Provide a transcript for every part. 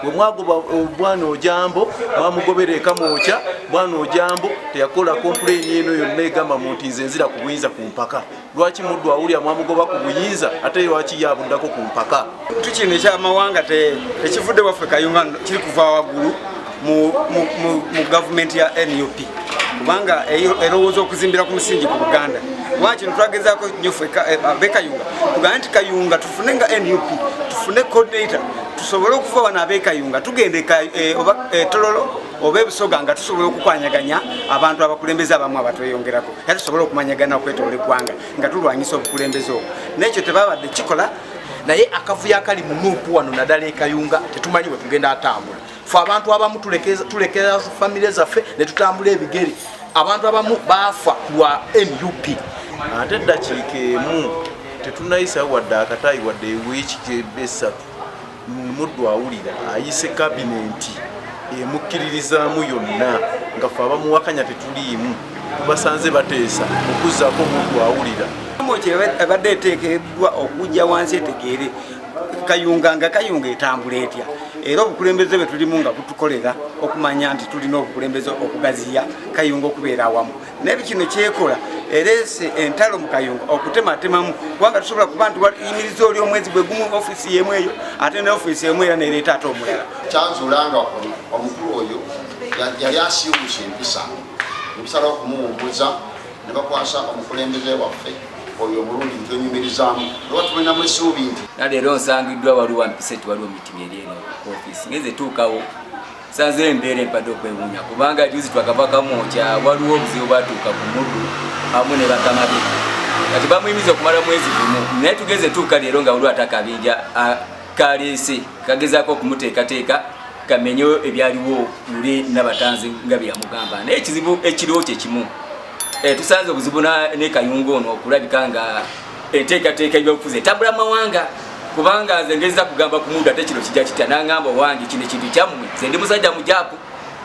bwe mwagoba obwana eh, ojambo mwamugobera eka mwokya bwana ojambo teyakola kompuleyini eno yonna egamba mu nti nze nzira ku buyinza ku mpaka lwaki muddu awulira mwamugoba ku buyinza ate lwaki yabuddako ku mpaka tu kino ekyamawanga tekivudde waffe kayunga kiri kuva waggulu mu gavumenti ya nup kubanga erowooza okuzimbira ku musingi ku buganda kuba kino twagezaako nyo ffe eh, be kayunga tugambe nti kayunga tufune nga nup tufune coordinator tusobole okuva wano abekayunga tugenda e, oba e, tololo oba ebusoga nga tusobola okukwanyaganya abantu abakulembeze abamu abatweyongerako era tusobole okumanyagana okwetoola eggwanga nga tulwanyisa obukulembeze obwo nekyo tebabadde kikola naye akavuyo akali munuupu wano naddala ekayunga tetumanyi bwe tugenda atambula fe abantu abamu tulekera famire zaffe ne tutambula ebigere abantu abamu baafa ku lwa nup ate eddakiika emu tetunayisawo wadde akataayi wadde ewiiki gyebesatu muddu awulira ayise kabinenti emukkiririzaamu yonna nga fe abamuwakanya tetuliimu tubasanze bateesa okuzzaako muddu awulira ebadde eteekeddwa okujja wansi etegeere kayunga nga kayunga etambula etya era obukulembeze bwe tulimu nga butukolera okumanya nti tulina obukulembeze okugaziya kayunga okubeera awamu naye bikino kyekola erese entalo mu kayunga okutematemamu kubanga tusobola kuba nti yimiriza oli omwezi gwe gumu ofisi yemu eyo ate ne ofisi emu era nereeta ate omulala kyanzulanga omukulu oyo yali asiiwuusa empisa nebisala okumuwumbuza ne bakwasa omukulembeze waffe oyo omulundi ntwenyumirizamu oba tulinamu esuubi nti naleero nsangiddwa waliwo mpisa eti waliwo mitima eri eno ku ofisi ngeze tuukawo sanze embeera empadde okwewunya kubanga juzi twakavakamu kya waliwo obuzibu batuuka ku muddu amu ne bakamabi kati bamuyimiza okumala mwezi gumu naye tugeze tuuka leero nga waliwo atakabinja kaleese kagezaako okumuteekateeka kamenyo ebyaliwo luli nabatanzi nga byeyamugamba naye ekizibu ekiriwo kyekimu eh, tusanze obuzibu ne kayunga ono okulabika nga enteekateeka ebyobufuzi etabula mawanga kubanga nze ngeza kugamba ku mundu ate kino kijja kitya nangamba owange kino ekintu kyammwe nze ndi musajja mujaku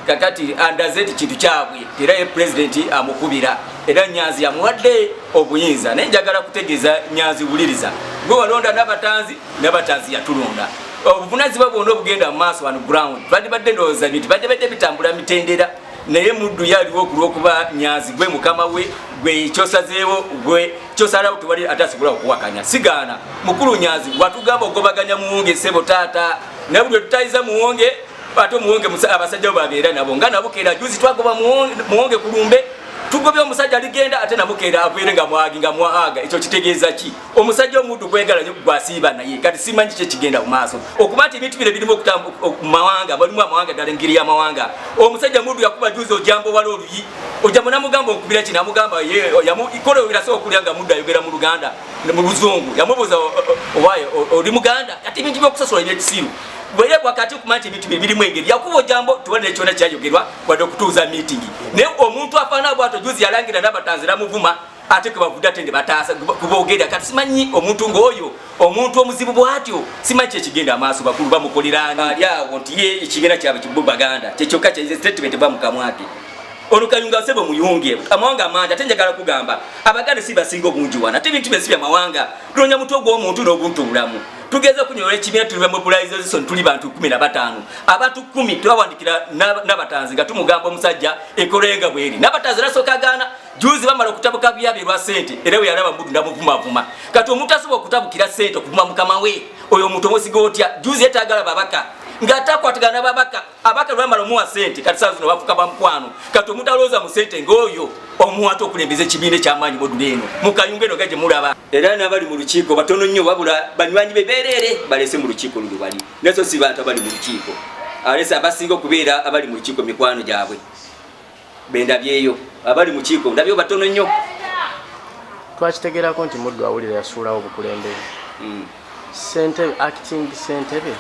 kakati andaze nti kintu kyabwe era ye pulezidenti amukubira era nyanzi yamuwadde obuyinza naye njagala kutegeeza nyanzi wuliriza gwe walonda nabatanzi nabatanzi yatulonda obuvunazibwa bwona obugenda mu maaso wano ground badibadde ndowooza bintu badibadde bitambula mitendera naye muddu ye aliwo okulwokuba nyazi gwe mukama we gwe kyosazeewo gwe kyosalawo tewali ate asobola okuwakanya sigaana mukulu nyazi watugamba okugobaganya muwunge sebo taata naye buli wetutayiza muwunge ate omuwunge abasajja bo babeera nabo nga nabukeera juzi twagoba muwunge kulumbe tugobye omusajja aligenda ate nabukeera abeere nga mwagi nga mwahaga ekyo kitegeeza ki omusajja omuddu kwegala nyo gwasiiba naye kati simanyi kye kigenda mu maaso okuba nti ebintu bino birimu okutamumawanga balimu amawanga ddala engeri y'amawanga omusajja muddu yakuba juzi ojamba owala oluyi ojja munamugamba okubira kino amugamba ikola oyogeraso okulya nga muddu ayogera mu luganda mu luzungu yamubuuza owaye oli muganda kati ebintu byokusosola ebyekisiru bwere wakati okumanya nti ebintu bye birimu engeri yakuba ojambo tubonere kyona kyayogerwa wadde okutuuza miitingi naye omuntu afaana bwato juzi yalangira nabatanzi namuvuma ate kebavude ate ne bataasa kubogera kati simanyi omuntu ng'oyo omuntu omuzibu bwatyo simanyi kyekigenda amaaso bakulu bamukoleranga ali awo nti ye ekigenda kyabwe kibu baganda kyekyokka kye statement eva mukamwake ono kayunga sebo muyunge amawanga amangi ate njagala kugamba abaganda si basinga obungi wana ate ebintu byensi byamawanga tunonya mutwe ogw'omuntu n'obuntu obulamu tugeze okunyola ekibiina tuli bamobilization tuli bantu kumi na batano abantu kumi twawandikira nabatanzi nga tumugamba omusajja ekolenga bweri nabatanzi nasooka gaana juzi bamala okutabuka byabi lwa sente era weyalaba mbudu ndamuvumavuma kati omuntu asobola okutabukira sente okuvuma mukama we oyo omuntu omusiga otya juzi yetagala babaka ngatakwatagana babaka abaka lwamala omuwa sente kati saa zino bafuka bamukwano kati omuntu alowooza mu sente ngaoyo omuwata okulembeza ekibiina ekyamaanyi modula eno mukayunga eno gaje mulaba era nabali mu lukiiko batono nnyo wabula banywanyi be bereere balese mu lukiiko luno bali naso si bantu abali mu lukiiko alese abasinga okubeera abali mu lukiiko mikwano gyabwe bendabyeyo abali mukiiko ndabyo batono nnyo twakitegerako nti muddu awulira yasuulawo obukulembeze hmm. sentebe acting sentebe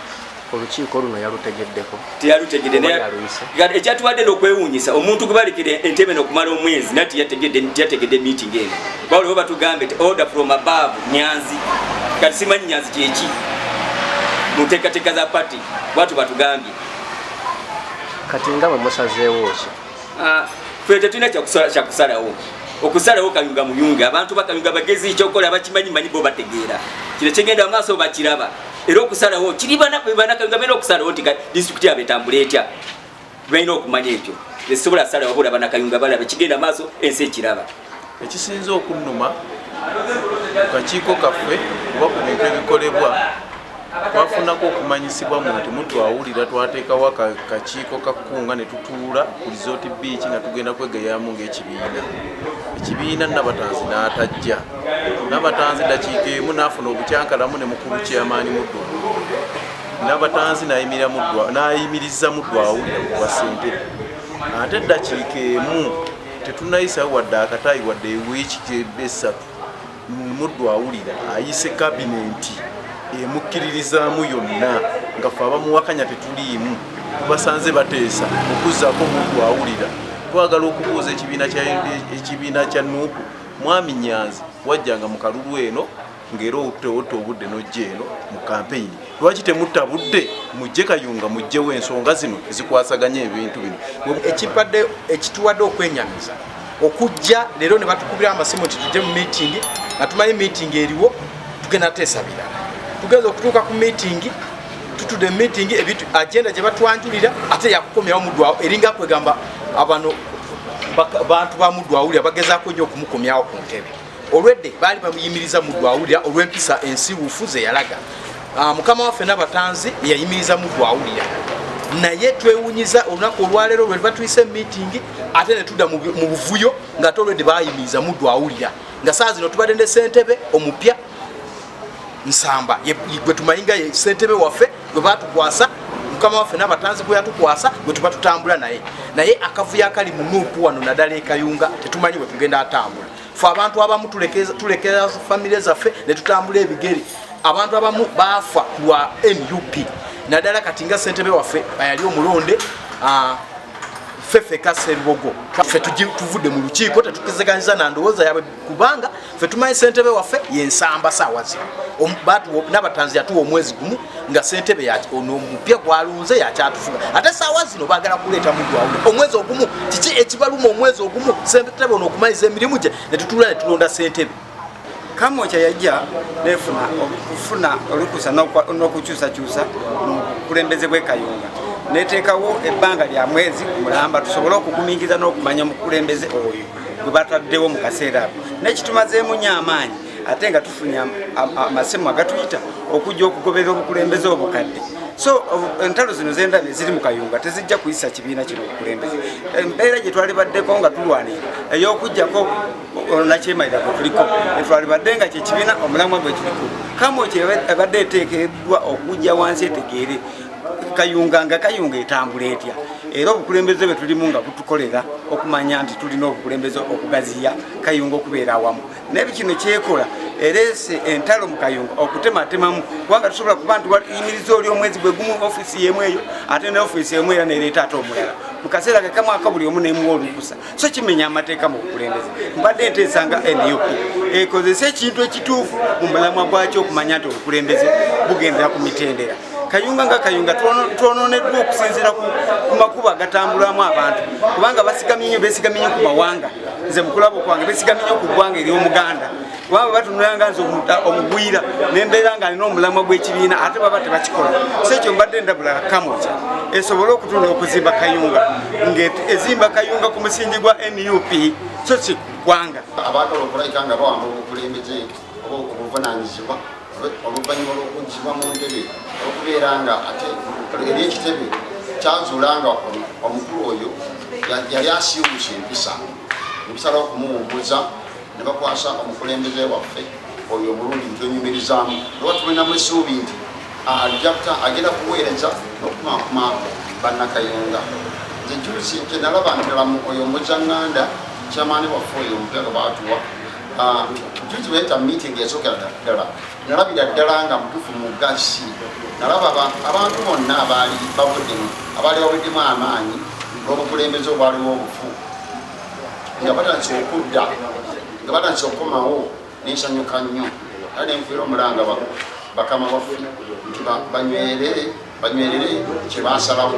olukiiko luno yalutegeddeko teyalutegedeekyatubadde nokwewunyisa omuntu gwebalekera entebe nokumala omwezi nati yategedde meeting eno bawuliwo batugambe ti order from above nyanzi kati simanyi nyanzi kyeki munteekateeka za pati bwatu batugambye kati nga bwe musazeewo ki ah, fe tetulina kyakusalawo okusalawo kayunga muyunga abantu bakayunga bagezi ekyokukola bakimanyi manyi bo bategeera kino kigenda amaaso bakiraba era okusalawo kiri banakayunga balina okusalawo nti disitulikiti yabo etambula etya balina okumanya ekyo esobola asalawo bola banakayunga balaba kigenda amaaso ensi ekiraba Ekisinze okunnuma ku kakiiko kaffe oba ku bintu ebikolebwa twafunako okumanyisibwa mu nti mutu awulira twateekawo akakiiko ka kkunga ne tutuula ku lizooti biiki nga tugenda kwegeyamu ng'ekibiina ekibiina nabatanzi n'atajja nabatanzi dakiika emu n'afuna obukyankalamu ne mukulu kyamaanyi muddu nabatanzi nayimiriza muddu awulira ku bwa sentebe ate dakiika emu Tetunayisawo wadde akataayi wadde ewiiki gyebba essatu muddu awulira ayise kabinenti emukkiririzaamu yonna nga fe abamuwakanya tetuliimu tubasanze bateesa okuzzaako muddu awulira twagala okubuuza ekibiina kya nuupu mwami nyanzi wajjanga mu kalulu eno ng'era otewotta obudde n'ojja eno mu kampeyini lwaki temutta budde mujje kayunga mujjewo ensonga zino ezikwasaganya ebintu bino ekibadde ekituwadde okwenyamiza okujja leero ne batukubira amasimu nti tujje mu miitingi nga tumanyi miitingi eriwo tugenda teesa birala tugenza okutuuka ku miitingi tutude miitingi ebintu agenda gye batwanjulira ate yakukomyawo mudwawo eringa kwegamba abano bantu ba mudwawulira bagezaako nnyo okumukomyawo ku ntebe olwedde baali bamuyimiriza muddu awulira olw'empisa ensiwuufu ze yalaga ah, mukama waffe nabatanzi yeyayimiriza muddu awulira naye twewunyiza olunaku olwaleero lwe batuyise emitingi ate ne tudda mu buvuyo nga te olwedde bayimiriza muddu awulira nga saa zino tubadde ne sentebe omupya nsamba gwe tumanyi nga ye sentebe waffe gwe batukwasa mukama waffe nabatanzi gwe yatukwasa gwe tuba tutambula naye naye akavuyo akali mu nuupu wano naddala ekayunga tetumanyi bwe tugenda atambula fe abantu abamu tulekera famire zaffe netutambula ebigere abantu abamu baafa lwa nup naddala kati nga ssentebe waffe ayali omulonde ah, ffe feka serubogo ffe tuvudde mu lukiiko tetukizeganyiza na ndowooza yabwe kubanga ffe tumanyi ssentebe waffe yensamba saawa zino nabatanzi yatuwa omwezi gumu nga sentebe nomupya gwalonze yakyatufuga ate saawa zino bagala kuleeta mugwawo omwezi ogumu kiki ekibaluma omwezi ogumu sentebe ono okumaliza emirimu gye netutula netulonda sentebe kamokya yajja nefuna okufuna olukusa nokukyusakyusa mukulembeze bwekayunga neteekawo ebbanga lya mwezi mulamba tusobole okugumingiza n'okumanya omukulembeze oyo gwe bataddewo mu kaseera ako nekitumazeemu nyo amaanyi ate nga tufunye amasimu agatuyita okujja okugoberera obukulembeze obukadde so entalo zino zendabye ziri mu kayunga tezijja kuyisa kibiina kino obukulembeze embeera gye twali baddeko nga tulwanira ey'okugjako nakyemalira gwe tuliko etwali badde nga kyekibiina omulamwa gwe kiriko kamu kyebadde eteekeddwa okujja wansi etegeere kayunga nga kayunga etambula etya era obukulembeze bwe tulimu nga butukolera okumanya nti tulina obukulembeze okugaziya kayunga okubeera awamu naye bikino kyekola ereese entalo mu kayunga okutematemamu kubanga tusobola kuba nti wayimiriza oli omwezi gwe gumu ofiisi yemu eyo ate ne ofiisi emu era nereeta ate omulala mu kaseera kekamwaka buli omu nemuwa olukusa so kimenya amateeka mu bukulembeze mbadde enteesa nga nup ekozese ekintu ekituufu mu mulamwa gwakyo okumanya nti obukulembeze bugendera ku mitendera kayunga nga kayunga twononeddwa okusinziira ku makubo agatambulamu abantu kubanga basigamye nyo besigamye nyo ku mawanga nze mukulabo kwange besigamye nyo ku ggwanga ery'omuganda kubanga batunulanga nze omugwira nembeera nga alina omulamwa gw'ekibiina ate baba tebakikola so ekyo mbadde ndabula kamoja esobole okutunda okuzimba kayunga ngezimba kayunga ku musingi gwa nup so si ggwanga oba obuvunaanyizibwa oluvannyuma lw'okuggyibwa mu ntebe okubeera nga ate eri ekitebe kyazuula nga omukulu oyo yali asiiwuusa empisa nebisalawo okumuwumbuza ne bakwasa omukulembeze waffe oyo omulungi ntwenyumirizaamu oba tulinamu essuubi nti ajakta agenda kuweereza n'okumakuma bannakayunga nze juzi kyenalaba ntalamu oyo omuzanganda kyamaani waffe oyo omutego baatuwa Ah, juzi weta meeting yasokera ddala nalabira ddala nga mutufu mugasi nalaba abantu bonna abaali babuddemu abaali babuddemu amaanyi n'obukulembeze obwaliwo obufu nga batandise okudda nga batandise okukomawo nensanyuka nnyo a nenfuira omulanga bakama baffe nti banywerere banywerere kyebasalawo